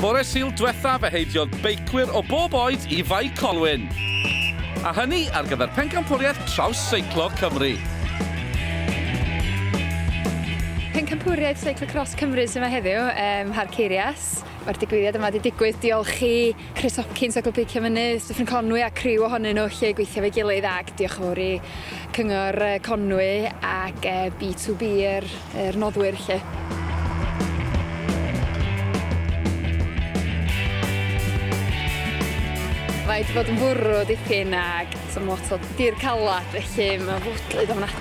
Bore Sul diwetha fe heidiodd beicwyr o bob oed i Fai Colwyn. A hynny ar gyfer pencampwriaeth traws seiclo Cymru. Pencampwriaeth Seiclo Cros Cymru sy'n yma heddiw ym Mharc Ceirias. Mae'r digwyddiad yma wedi digwydd diolch i Chris Hopkins o Glwb Beicio Mynydd Dyffryn Conwy a criw ohonyn nhw lle gweithio fe gilydd ac diolch yn fawr i Cyngor Conwy ac B2B yr, yr noddwyr lle. Mae wedi bod yn fwrw dipyn ac sy'n lot o dir calad felly mae fwdlyd ofnadwy.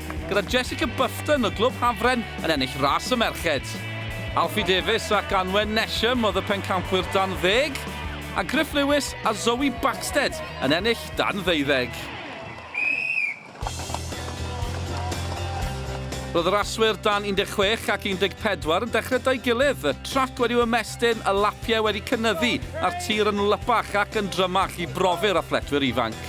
gyda Jessica Bufton o Glwb Hafren yn ennill ras y merched. Alfie Davies ac Anwen Nesham oedd y pencampwyr dan ddeg, a Griff Lewis a Zoe Baxted yn ennill dan ddeuddeg. Roedd y raswyr dan 16 ac 14 yn dechrau da'i gilydd, y trac wedi'w ymestyn, y lapiau wedi cynyddu a'r tir yn wlypach ac yn drymach i brofi'r athletwyr ifanc.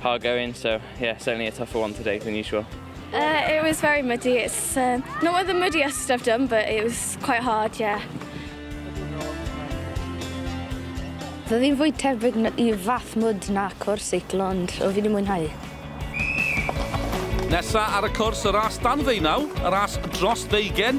hard going, so yeah, certainly a tougher one today than usual. Uh, it was very muddy. It's uh, not one of the muddiest I've done, but it was quite hard, yeah. Roedd hi'n fwy tebyg i fath mwyd na cwrs seicl, ond o fi wedi mwynhau. Nesa ar y cwrs y ras dan ddeunaw, y ras dros ddeugen,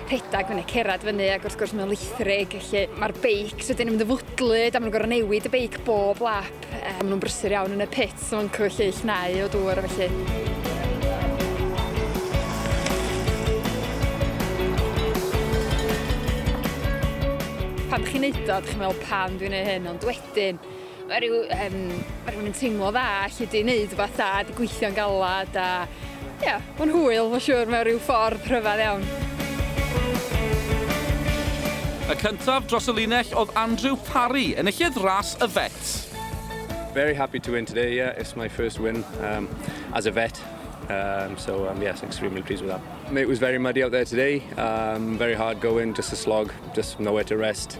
rhedeg fyny, cerdded fyny ac wrth gwrs mae'n lithrig, felly mae'r beics wedyn yn mynd yn fwdlyd a maen nhw'n gorfod newid y beic bob lap. E, maen nhw'n brysur iawn yn y pit, so maen nhw'n lleill nau o dŵr a felly. pan chi'n neud o, dych chi'n meddwl pam dwi'n neud hyn, ond wedyn, Mae rhyw, um, mae rhywun yn teimlo dda allu di wneud rhywbeth da, di gweithio'n galad a... Ie, yeah, mae'n hwyl, mae'n siŵr, mewn rhyw ffordd rhyfedd iawn. Y cyntaf dros y linell oedd Andrew Parry, enillydd ras y Fet. Very happy to win today, yeah, it's my first win um, as a vet. Um, so um, yes, extremely pleased with that. It was very muddy out there today, um, very hard going, just a slog, just nowhere to rest.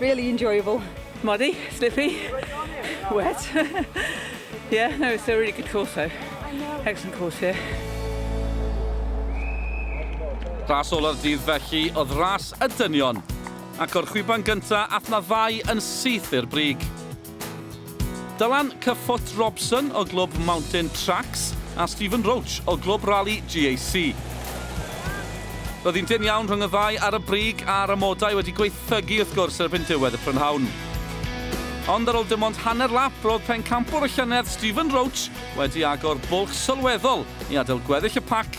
Really enjoyable. Muddy, slippy, wet. yeah, no, it's a really good course though. Excellent course here. Yeah. Ras ola'r dydd felly oedd ras y dynion, ac o'r chwiban gyntaf ath na ddau yn syth i'r brig. Dylan Cyffot Robson o glwb Mountain Tracks a Stephen Roach o glwb rali GAC. Roedd hi'n dynn iawn rhwng y ddau ar y brig a'r amodau wedi gwaethygu wrth gwrs erbyn diwedd y prynhawn. Ond ar ôl dim ond hanner lap roedd pencampwr y llynedd Stephen Roach wedi agor bwlch sylweddol i adael gweddill y pac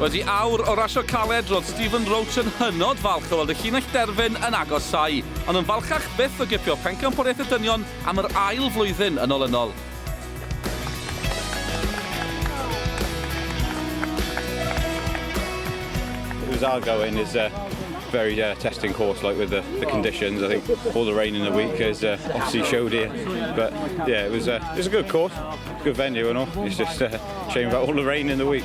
Wedi awr o rasio caled, roedd Stephen Roach yn hynod falch o weld y llinell derfyn yn agosáu, ond yn falchach byth o gipio Pencampwriaeth y Dynion am yr ail flwyddyn yn olynol. was our going is a very uh, testing course, like with the, the, conditions. I think all the rain in the week has uh, obviously showed here, but yeah, it was uh, it was a good course, good venue and all. It's just a uh, shame about all the rain in the week.